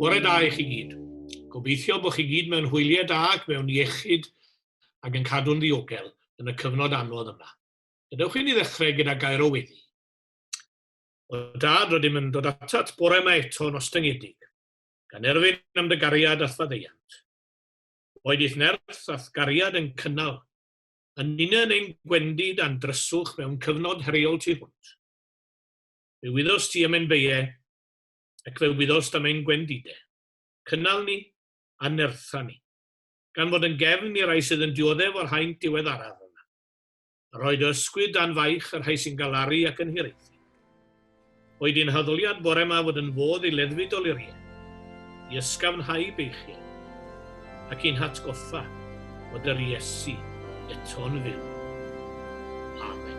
Bore da i chi gyd. Gobeithio bod chi gyd mewn hwyliau da ac mewn iechyd ac yn cadw'n ddiogel yn y cyfnod anodd yma. Gadewch i ni ddechrau gyda gair o weddi. O dad, rydym yn dod atat bore yma eto yn ostyngedig. gan erfyn am dy gariad a'th faddeuant. Boed i'th nerth a'th gariad yn cynnal, yn ninyn ein gwendi dan dryswch mewn cyfnod heriol tu hwnt. Fe wyddost ti am ein beie, ac fe wyddost am ein gwendide. Cynnal ni, a nertha ni, gan fod yn gefn i rai sydd yn dioddef o'r haint diweddaraf yma. a rhoi dy ysgwydd dan faich y rhai sy'n galaru ac yn hiraethu. Oed i'n haddoliad bore yma fod yn fodd i leddfu doluriaid, i ysgafnhau beichiau, ac i'n hatgoffa bod yr Iesu eto'n fyw. Amen.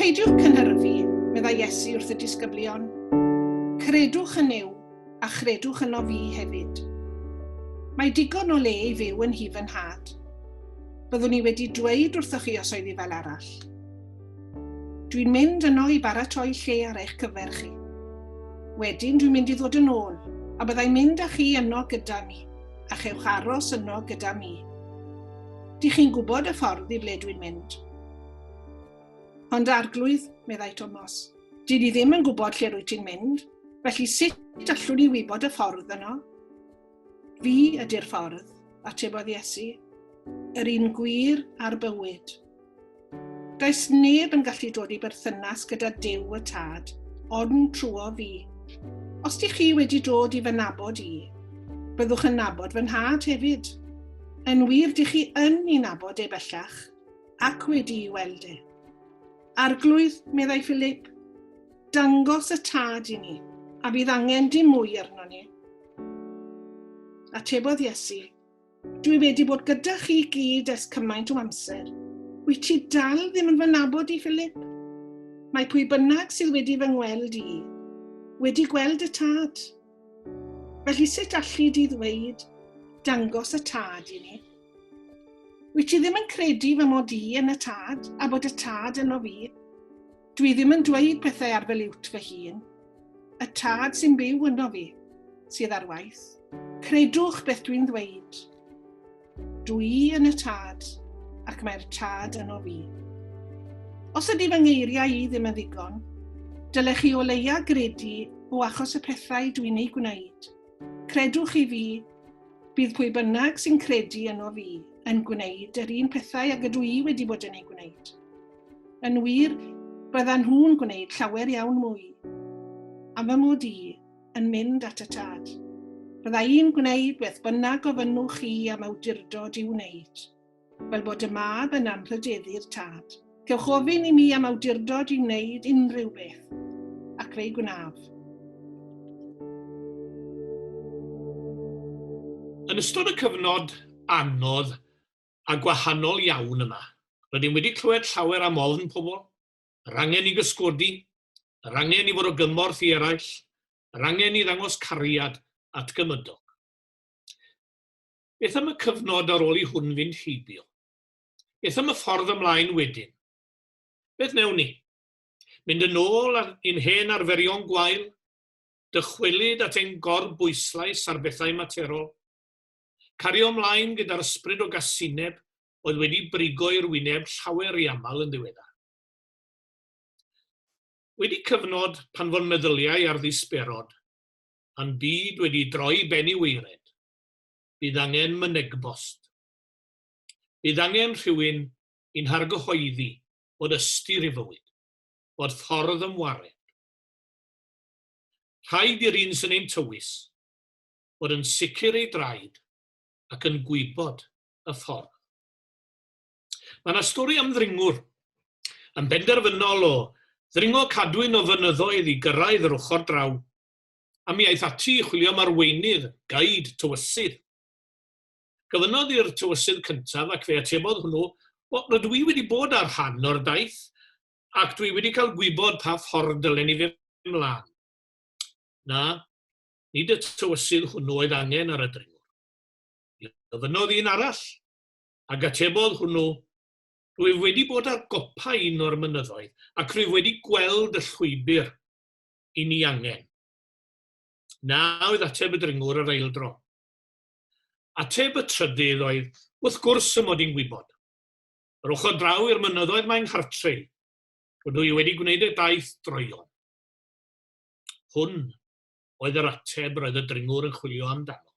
Peidiwch cynhyrfu, meddai Iesu wrth y disgyblion. Credwch yn Nuw, a chredwch yno fi hefyd. Mae digon o le i fyw yn hi fy nhad. Byddwn i wedi dweud wrthoch chi os oedd hi fel arall. Dwi'n mynd yno i baratoi lle ar eich cyfer chi. Wedyn dwi'n mynd i ddod yn ôl, a byddai'n mynd â chi yno gyda mi. a chewch aros yno gyda mi. Dych chi'n gwybod y ffordd i ble dwi'n mynd. Ond arglwydd, meddai Tomos, dyn ni ddim yn gwybod lle rwy ti'n mynd, felly sut allwn ni wybod y ffordd yno? Fi ydy'r ffordd, atebodd Iesu, yr un gwir a'r bywyd. Does neb yn gallu dod i berthynas gyda Duw y Tad, ond trwyo fi. Os di chi wedi dod i fy nabod i, byddwch yn nabod fy nhad hefyd. Yn wir, di chi yn i nabod e bellach, ac wedi i weld e. Arglwydd, meddai Philip, dangos y tad i ni, a bydd angen dim mwy arno ni. Atebodd Iesu, Dwi wedi bod gyda chi gyd ers cymaint o amser. Wyt ti dal ddim yn fy nabod i, Philip? Mae pwy bynnag sydd wedi fy ngweld i, wedi gweld y tad. Felly sut allu di ddweud, dangos y tad i ni? Wyt ti ddim yn credu fy mod i yn y tad, a bod y tad yno fi? Dwi ddim yn dweud pethau ar fy liwt fy hun. Y tad sy'n byw yno fi, sydd ar waith. Credwch beth dwi'n ddweud. Dw i yn y tad, ac mae'r tad yno fi. Os ydy fy ngeiriau i ddim yn ddigon, dylech chi o leia gredu o achos y pethau dwi'n eu gwneud. Credwch i fi, bydd pwy bynnag sy'n credu yno fi yn gwneud yr un pethau ag ydw i wedi bod yn ei gwneud. Yn wir, byddan nhw'n gwneud llawer iawn mwy. Am fy mod i yn mynd at y tad. Bydda i'n gwneud beth bynnag gofynnwch chi am awdurdod i'w wneud. Fel bod y mab yn anrhydeddu'r tad. Cewch ofyn i mi am awdurdod i wneud unrhyw beth, ac fe'i gwnaf. Yn ystod y cyfnod anodd a gwahanol iawn yma. Rydym wedi clywed llawer am ofn pobl, yr angen i gysgodi, yr angen i fod o gymorth i eraill, yr angen i ddangos cariad at gymydog. Beth am y cyfnod ar ôl i hwn fynd heibio? Beth am y ffordd ymlaen wedyn? Beth wnewn ni? Mynd yn ôl i'n hen arferion gwael? Dychwelyd at ein gorbwyslais ar bethau materol? Cario ymlaen gyda'r ysbryd o gasineb oedd wedi brigo i'r wyneb llawer ry aml yn ddiweddar. Wedi cyfnod pan fo'n meddyliau ar ddisberod, pan byd wedi droi ben i weired, bydd angen mynegbost. Bydd angen rhywun i'n hargyhoeddi bod ystyr i fywyd, bod ffordd ymwared. Rhaid i'r un sy'n ein tywys, fod yn sicr ei draed ac yn gwybod y ffordd. Mae yna stori am ddringwr yn benderfynol o ddringo cadwyn o fynyddoedd i gyrraedd yr ochr draw, a mi aeth ati i chwilio am arweinydd, gaid, tywysydd. Gofynnodd i'r tywysydd cyntaf ac fe atebodd hwnnw, o, rydw i wedi bod ar rhan o'r daith ac dwi wedi cael gwybod pa ffordd dylen i fynd mlaen. Na, Nid y tywysydd hwnnw oedd angen ar y dringwr. Mi ofynnodd un arall, ac atebodd hwnnw, Rwyf wedi bod ar gopa un o'r mynyddoedd, ac rwyf wedi gweld y llwybr i ni angen. Na oedd ateb y dringwr yr eildro. Ateb y trydydd oedd, Wrth gwrs y mod i'n gwybod. Yr ochr draw i'r mynyddoedd mae nghartre i. Rydw i wedi gwneud y daith droion. Hwn oedd yr ateb roedd y dringwr yn chwilio amdano.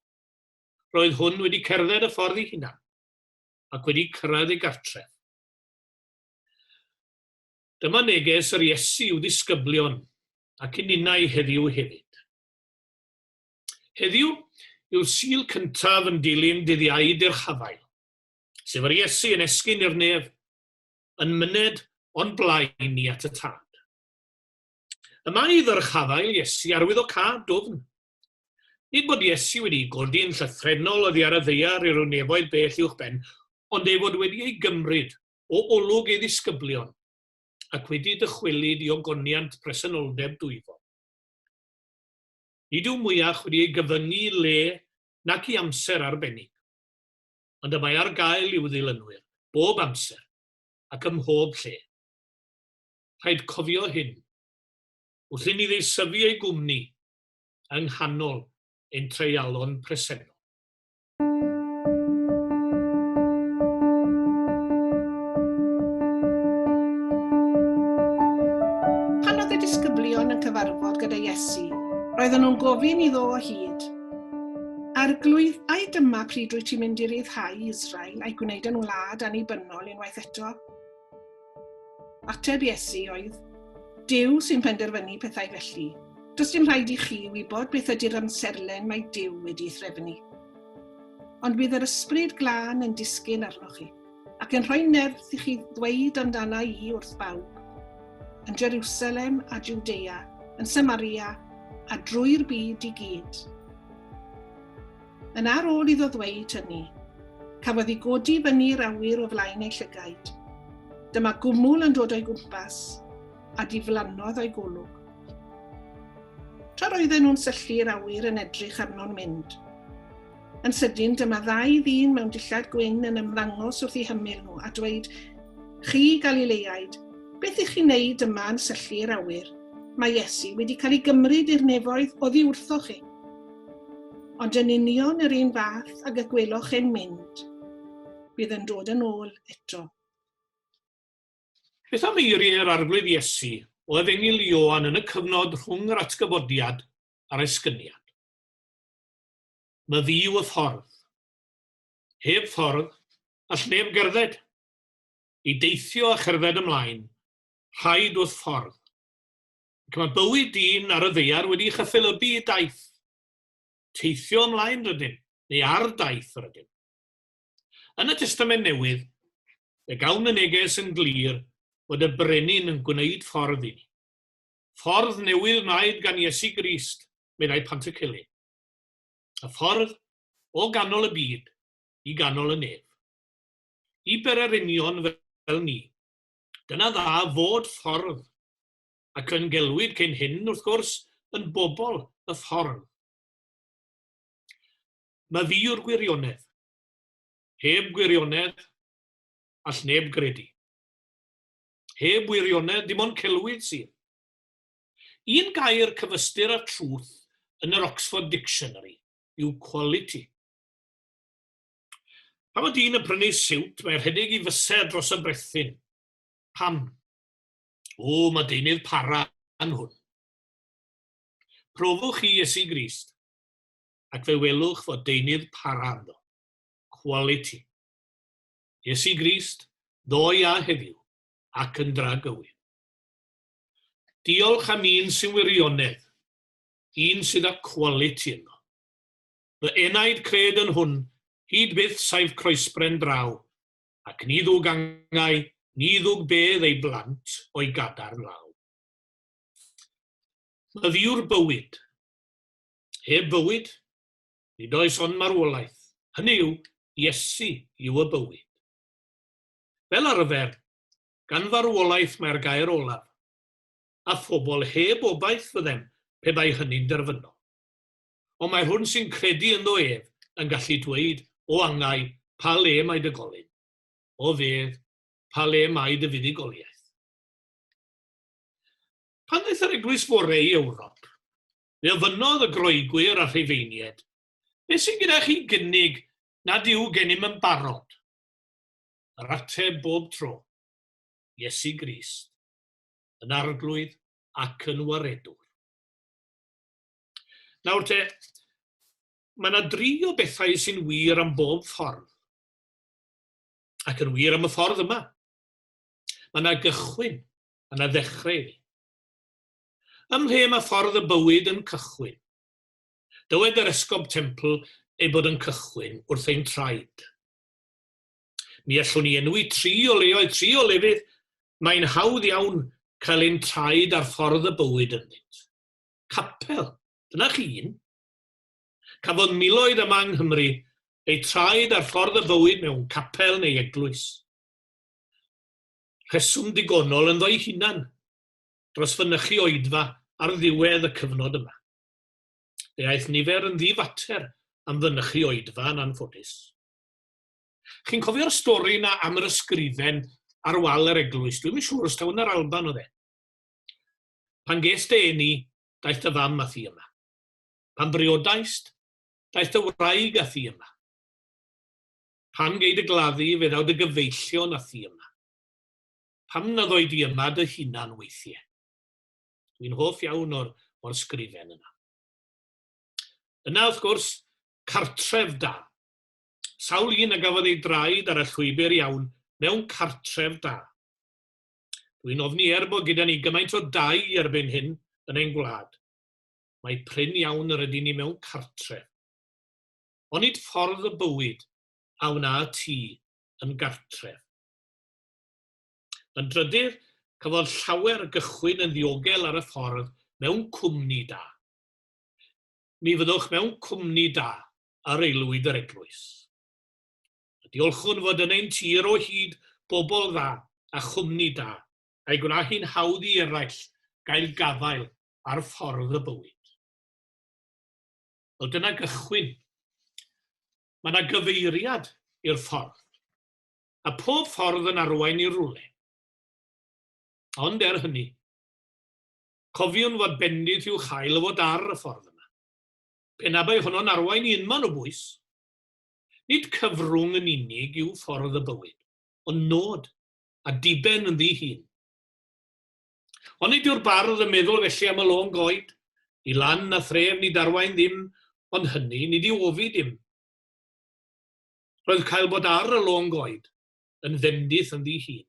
Roedd hwn wedi cerdded y ffordd ei hunan, ac wedi cyrraedd ei gartref. Dyma neges yr Iesu i'w ddisgyblion ac i ninnau heddiw hefyd. Heddiw yw'r sil cyntaf yn dilyn dyddiau i'r hafael, sef yr Iesu yn esgyn i'r nef, yn myned o'n blaen ni at y tad. Y mae i ddyrchafael Iesu arwyddocâd dwfn. Nid bod Iesu wedi'i godi yn llythrennol oddi ar y ddaear i ryw nefoedd bell uwchben, ond ei fod wedi ei gymryd o olwg ei ddisgyblion, ac wedi dychwelyd i ogoniant presenoldeb dwyfol. Nid yw mwyach wedi ei gyfyngu i le nac i amser arbennig, ond y mae ar gael i'w ddilynwyr bob amser ac ym mhob lle. rhaid cofio hyn, wrth inni ddeisyfu ei gwmni yng nghanol ein treialon presennol. Pan oedd y disgyblion yn cyfarfod gyda Iesu, roedden nhw'n gofyn iddo o hyd, Arglwydd, ai dyma pryd rwyt ti'n mynd i ryddhau Israel a'i gwneud yn wlad annibynnol unwaith eto? Ateb Iesu oedd, Duw sy'n penderfynu pethau felly. Does dim rhaid i chi wybod beth ydy'r amserlen mae Duw wedi threfnu. Ond bydd yr ysbryd glân yn disgyn arnoch chi, ac yn rhoi nerth i chi ddweud amdana i wrth bawb, yn Jerusalem a Judea, yn Samaria a drwy'r byd i gyd. Yn ar ôl iddo ddweud hynny, cafodd i godi i fyny i'r awyr o flaen ei llygaid. Dyma gwmwl yn dod o'i gwmpas, a diflannodd o'i golwg. Tra roedden nhw'n syllu i'r awyr yn edrych arno'n mynd. Yn sydyn, dyma ddau ddyn mewn dillad gwyn yn ymddangos wrth i hymyl nhw a dweud, Chi, Galileaid, beth ych chi'n neud yma yn syllu i'r awyr? Mae Iesu wedi cael ei gymryd i'r nefoedd oddi wrthoch chi. Ond yn union yr un fath ag y gweloch e'n mynd, bydd yn dod yn ôl eto. Beth am eiriau'r Arglwydd Iesu o Efengyl Ioan yn y cyfnod rhwng yr atgyfodiad a'r esgyniad? Mae fi yw y ffordd. Heb ffordd, all neb gerdded. I deithio a cherdded ymlaen, rhaid wrth ffordd. ac mae bywyd dyn ar y ddaear wedi chyffelybu i daith. Teithio ymlaen rydym, neu ar daith rydym. Yn y Testament Newydd, fe gawn y neges yn glir fod y Brenin yn gwneud ffordd i ni. Ffordd newydd wnaed gan Iesu Grist, meddai Pantycelyn. Y ffordd o ganol y byd i ganol y nef. I bererinion fel ni, dyna dda fod ffordd ac yn gelwid cyn hyn, wrth gwrs, yn bobl y ffordd. Mae fi yw'r gwirionedd. Heb gwirionedd, all neb gredu. Heb wirionedd, dim ond celwydd sydd. Un gair cyfystyr â truth yn yr Oxford Dictionary yw quality. Pan mae dyn yn prynu siwt, mae rhedeg i fysedd dros y brethyn. Pam? O, mae deunydd para yn hwn. Profwch chi Iesu Grist, ac fe welwch fod deunydd para ynddo. Quality. Iesu Grist, ddoe a heddiw, ac yn dra gywir. Diolch am un sy'n wirionedd, un sydd â quality ynddo. Fy enaid cred yn hwn, hyd byth saif croesbren draw, ac ni ddwg angau, ni ddwg bedd ei blant o'i gadarn law. Myf yw'r bywyd. Heb bywyd, nid oes ond marwolaeth. Hynny yw, Iesu yw y bywyd. Fel arfer, gan farwolaeth mae'r gair olaf, a phobl heb obaith fyddem pe bai hynny'n derfynol. ond mae hwn sy'n credu ynddo ef yn gallu dweud, O angau, pa le mae dy golyn? O fedd, pa le mae dy fuddugoliaeth? Pan ddaeth yr eglwys fore i Ewrop, fe ofynnodd y Groegwyr a Rhufeinied, Beth sy'n gyda chi gynnig nad yw gennym yn barod? Yr ateb bob tro, Iesu Grist, yn arglwydd ac yn waredwr. Nawr te, mae yna dri o bethau sy'n wir am bob ffordd. Ac yn wir am y ffordd yma. Mae yna gychwyn, mae yna ddechrau iddi. Ym mhe mae ffordd y bywyd yn cychwyn? Dywed yr esgob templ ei bod yn cychwyn wrth ein traed. Mi allwn ni enwi tri o leoedd, tri o lefydd, mae'n hawdd iawn cael ein traed ar ffordd y bywyd ynddynt. capel. Dyna chi un. Cafodd miloedd yma yng Nghymru eu traed ar ffordd y fywyd mewn capel neu eglwys. Rheswm digonol yn ddo'i hunan dros fynychu oedfa ar ddiwedd y cyfnod yma. Fe aeth nifer yn ddifater am fynychu oedfa yn anffodus. Chi'n cofio'r stori yna am yr ysgrifen ar wal yr eglwys? Dwi'n siŵr os tawn yr Alban oedd e. Pan gest dy eni, daeth dy fam â thi yma. Pan briodaist, daeth dy wraig â thi yma. Pan gei dy gladdu, fe ddaw dy gyfeillion â thi yma. Pam na ddoi di yma dy hunan weithie? Dwi'n hoff iawn o'r, o'r sgrifen yna. Yna, wrth gwrs, cartref da. Sawl un a gafodd ei draed ar y llwybr iawn mewn cartref da. Dwi'n ofni er bod gyda ni gymaint o dai erbyn hyn yn ein gwlad. Mae prin iawn yr ydyn ni mewn cartref. Onid ffordd y bywyd a wna ti yn gartref? Yn drydydd, cafodd llawer gychwyn yn ddiogel ar y ffordd mewn cwmni da. Mi fyddwch mewn cwmni da ar aelwyd yr eglwys. a diolchwn fod yn ein tir o hyd bobl dda a chwmni da, a'i gwna hi'n hawdd i eraill gael gafael ar ffordd y bywyd. Wel, dyna gychwyn. Mae yna gyfeiriad i'r ffordd, a pob ffordd yn arwain i'r rwle. Ond er hynny, cofiwn fod bendith i'w chael o fod ar y ffordd yma. Pe na bai honno'n arwain i unman o bwys, Nid cyfrwng yn unig yw ffordd y bywyd, ond nod, a diben ynddi hun. Onid yw'r bardd yn meddwl felly am y lôn goed, Ni lan na thref nid arwain ddim, ond hynny nid yw ofi dim. Roedd cael bod ar y lôn goed yn fendith ynddi hun.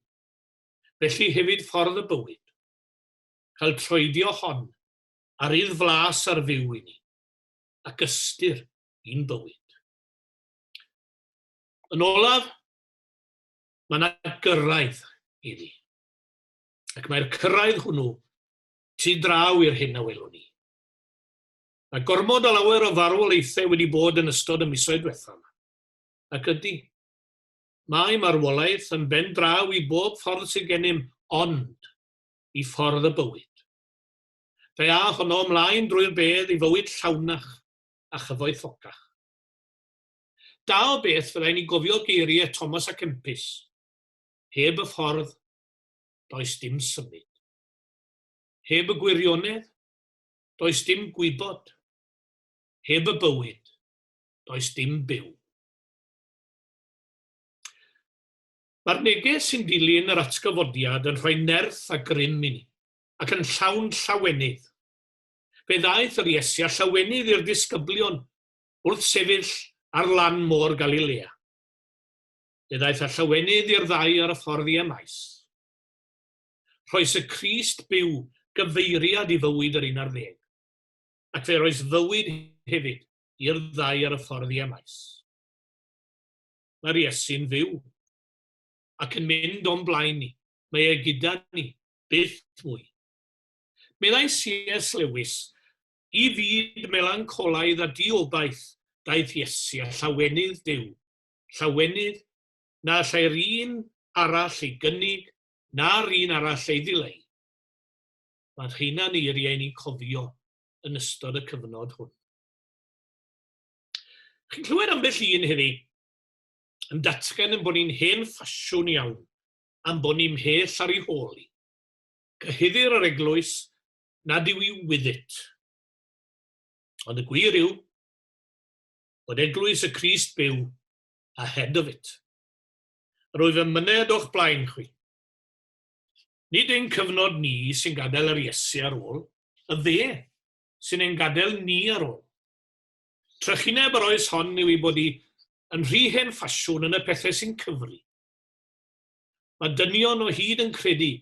Felly hefyd ffordd y bywyd. Cael troedio hon, ar idd flas ar fyw i ni, ac ystyr i'n bywyd. Yn olaf, mae yna gyrraedd iddi. Ac mae'r cyrraedd hwnnw tu draw i'r hyn a welwn ni. Mae gormod o lawer o farwolaethau wedi bod yn ystod y misoedd diwethaf yma. Ac ydy, mae marwolaeth yn ben draw i bob ffordd sydd gennym ond i ffordd y bywyd. Fe a honno ymlaen drwy'r bedd i fywyd llawnach, a chyfoethocach. Da o beth fyddai ni gofio geiriau Thomas a Kempis, Heb y ffordd, does dim symud. Heb y gwirionedd, does dim gwybod. Heb y bywyd, does dim byw. Mae'r neges sy'n dilyn yr atgyfodiad yn rhoi nerth a grym i ni, ac yn llawn llawenydd. Fe ddaeth yr Iesu a llawenydd i'r disgyblion wrth sefyll ar lan môr Galilea. Fe ddaeth a llawenydd i'r ddau ar y ffordd i Emaus. Rhoes y Crist byw gyfeiriad i fywyd yr un ar ddeg, ac fe roes fywyd hefyd i'r ddau ar y ffordd i Emaus. Mae'r Iesu'n fyw ac yn mynd o'n blaen ni, mae e gyda ni, byth mwy. Meddai CS Lewis, I fyd melancolaidd a diobaith daeth Iesu a llawenydd Duw, llawenydd na allai'r un arall ei gynnig na'r un arall ei ddileu. Mae'r rheina yn eiriau ni'n cofio yn ystod y cyfnod hwn. Chi'n clywed ambell un heddi yn datgan yn bod ni'n hen ffasiwn iawn, am bod ni'n mhell ar ei hôl i. cyhuddir yr eglwys nad yw i wyddyt. Ond y gwir yw bod eglwys y Crist byw a head of it. Rwyf yn myned o'ch blaen chwi. Nid ein cyfnod ni sy'n gadael yr Iesu ar ôl, y dde sy'n ein gadael ni ar ôl. Trychineb yr oes hon yw ei bod hi yn rhy hen ffasiwn yn y pethau sy'n cyfri. Mae dynion o hyd yn credu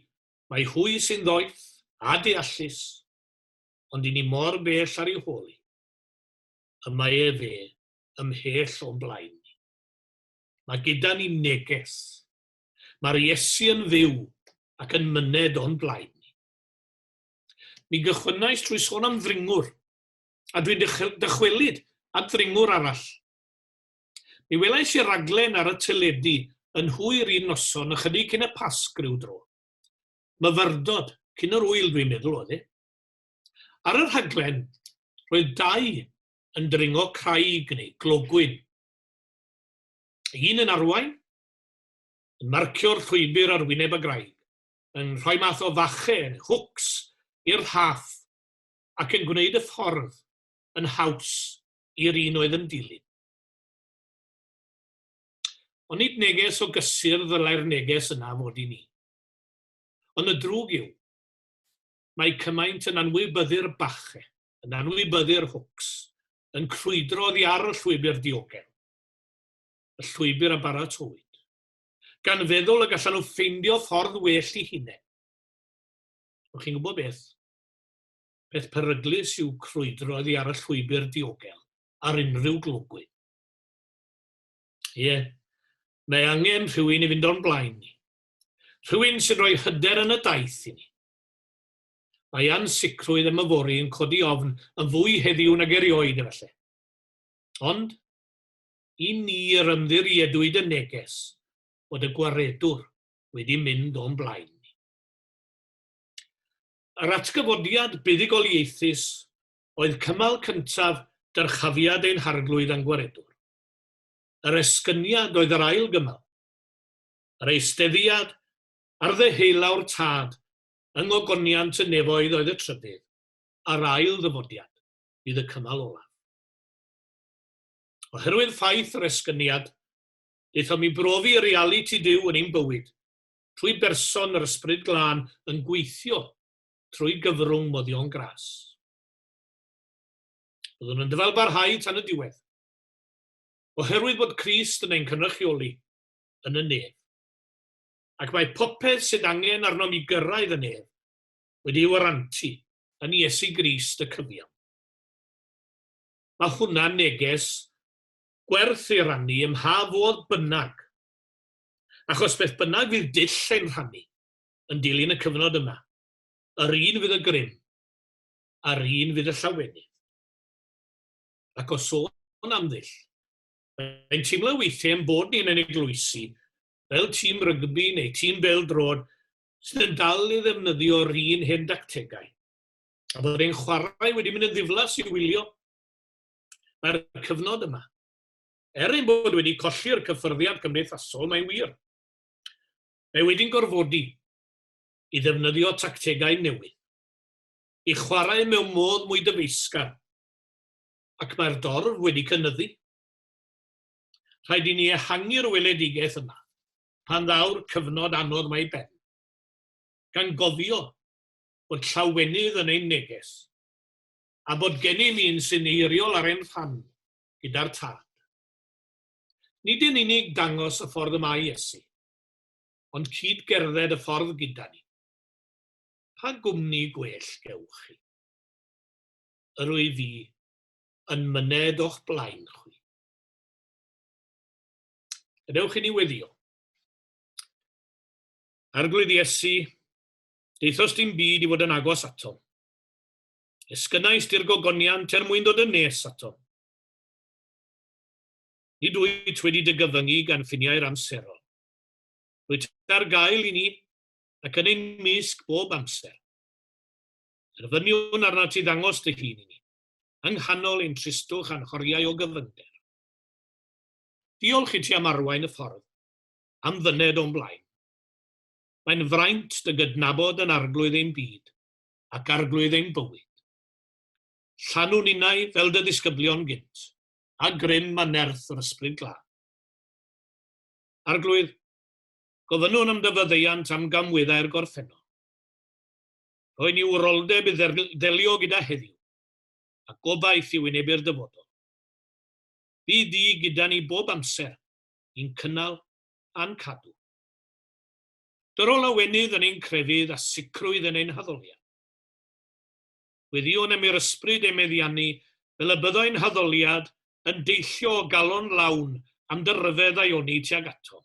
mai hwy sy'n ddoeth a deallus, ond i ni mor bell ar ei hôl hi. Y mae e fe ymhell o'n blaen ni. Mae gyda ni neges. Mae'r Iesu yn fyw ac yn myned o'n blaen ni. Mi gychwynnais trwy sôn am ddringwr, a dwi'n dychwelyd at ddringwr arall. Mi welais i'r raglen ar y teledu yn hwyr un noson ychydig cyn y Pasg ryw dro. Myfyrdod, cyn yr ŵyl dwi'n meddwl oedd e. Ar y rhaglen, roedd dau yn dringo craig neu glogwyn. Un yn arwain, yn marcio'r llwybr ar wyneb y graig, yn rhoi math o fache neu hwcs i'r rhaff ac yn gwneud y ffordd yn haws i'r un oedd yn dilyn. Ond nid neges o gysur ddylai'r neges yna fod i ni. Ond y drwg yw, mae cymaint yn anwybyddu'r bache, yn anwybyddu'r hwcs, yn crwydro oddi ar y llwybr diogel, y llwybr a baratowyd, gan feddwl y gallan nhw ffeindio ffordd well i hunain. O'ch chi'n gwybod beth? peth peryglus yw crwydro oddi ar y llwybr diogel ar unrhyw glogwyn. Ie, mae angen rhywun i fynd o'n blaen ni. Rhywun sy'n rhoi hyder yn y daith i ni. Mae ansicrwydd am yfory yn codi ofn yn fwy heddiw nag erioed efallai. Ond, i ni yr ymddiriedwyd y neges bod y gwaredwr wedi mynd o'n blaen ni. Yr atgyfodiad buddugoliaethus oedd cymal cyntaf dyrchafiad ein Harglwydd a'n Gwaredwr. Yr esgyniad oedd yr ail gymal, yr eisteddiad ar ddeheulawr Tad yng ngogoniant y nefoedd oedd y trydydd, a'r ail ddyfodiad fydd y cymal olaf. Oherwydd ffaith yr esgyniad, aethom i brofi realiti Duw yn ein bywyd, trwy berson yr Ysbryd Glân yn gweithio trwy gyfrwng moddion gras. Byddwn yn dyfalbarhau tan y diwedd, oherwydd bod Crist yn ein cynrychioli yn y nef. Ac mae popeth sydd angen arnom i gyrraedd y nef wedi'i warantu yn Iesu Grist y cyfiawn. Mae hwnna'n neges gwerth ei rannu ym mha fodd bynnag achos beth bynnag fydd dull ein rhannu yn dilyn y cyfnod yma, yr un fydd y grym, a'r un fydd y llawenydd. Ac o sôn am ddull, mae'n teimlo weithiau ein bod ni'n ein eglwysi fel tîm rygbi neu tîm bêl-droed sydd yn dal i ddefnyddio'r un hen dactegau, a bod ein chwarae wedi mynd yn ddiflas i wylio. Mae'r cyfnod yma, Er ein bod wedi colli'r cyffyrddiad cymdeithasol, mae'n wir. Mae wedi'n gorfodi i ddefnyddio tactegau newydd, i chwarae mewn modd mwy dyfeisgar, ac mae'r dorf wedi cynyddu. Rhaid i ni ehangu'r weledigaeth yna pan ddaw'r cyfnod anodd mae ben, gan gofio bod llawenydd yn ein neges, a bod gennym un sy'n eiriol ar ein rhan gyda'r Tad. Nid yn unig dangos y ffordd y mae Iesu, ond cyd gerdded y ffordd gyda ni. Pa gwmni gwell gewch chi? Yr wyf fi yn myned o'ch blaen chwi. Gadewch i ni weddio. Arglwydd Iesu, deithos dim byd i fod yn agos ato. Esgynnais di'r gogoniant er mwyn dod yn nes ato. Nid wyt wedi dy gyfyngu gan ffiniau'r amserol. Rwyt ar gael i ni, ac yn ein mysg bob amser. Erfyniwn arnat ti ddangos dy hun i ni, yng nghanol ein tristwch a'n horiau o gyfyngder. Diolch i ti am arwain y ffordd, am fyned o'n blaen. Mae'n fraint dy gydnabod yn arglwydd ein byd, ac arglwydd ein bywyd. Llanw ninnau fel dy ddisgyblion gynt, a grym a nerth yr Ysbryd Glân. Arglwydd, gofynnwn am dy faddeuant am gamwyddau'r gorffennol. Rhoi ni wroldeb i ddelio gyda heddiw, a gobaith i wynebu'r dyfodol. Bydd di gyda ni bob amser, i'n cynnal a'n cadw. Dyrol o lawenydd yn ein crefydd a sicrwydd yn ein haddoliad. Gweddïwn am i'r Ysbryd ei meddiannu fel y byddai'n haddoliad yn deillio o galon lawn am dy ryfedd a'i oni tuag atom.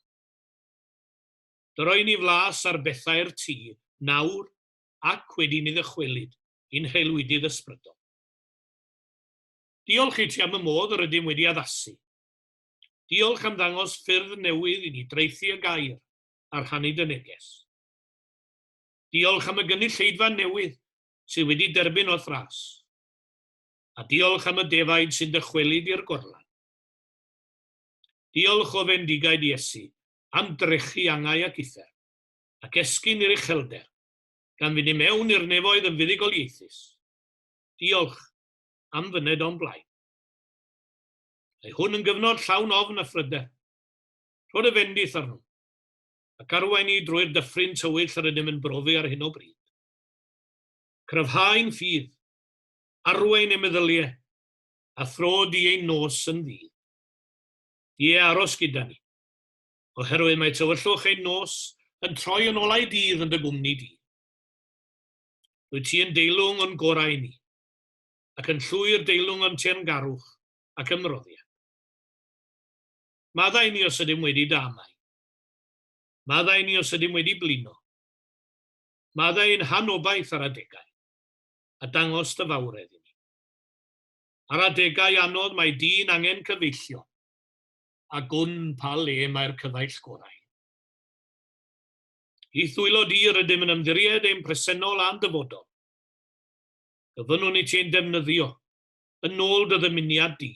Dyro i ni flas ar bethau'r Ti, nawr, ac wedi ni ddychwelyd i'n haelwydydd ysbrydol. Diolch i Ti am y modd yr ydym wedi addasu. Diolch am ddangos ffyrdd newydd i ni draethu y Gair, a rhannu dy neges. Diolch am y gynulleidfa newydd sydd wedi derbyn o Thras. A diolch am y defaid sy'n dychwelyd i'r gorlan. Diolch o fendigaid Iesu am drechu angau ac uthr, ac esgyn i'r uchelder, gan fynd i mewn i'r nefoedd yn fuddugoliaethus. Diolch am fyned o'n blaen. Mae hwn yn gyfnod llawn ofn a phryder. Rho dy fendith arno, ac arwain ni drwy'r dyffryn tywyll yr ydym yn brofi ar hyn o bryd. Cryfhau ein ffydd, arwain ein meddyliau, a thro di ein nos yn ddydd. Ie, aros gyda ni, oherwydd mae tywyllwch ein nos yn troi yn olau dydd yn dy gwmni di. Rwy ti yn deilwng o'n gorau i ni, ac yn llwyr deilwng o'n teyrngarwch ac ymroddiad. Maddau ni os ydym wedi damau. Maddau ni os ydym wedi blino. Maddau ein hanobaith ar adegau, a dangos dy fawredd i ni. Ar adegau anodd mae dyn angen cyfeillion, a gwn pa le mae'r cyfaill gorau. I thwylo di rydym yn ymddiried ein presennol a'n dyfodol. Gofynnwn i ti ein defnyddio, yn ôl dy ddymuniad di.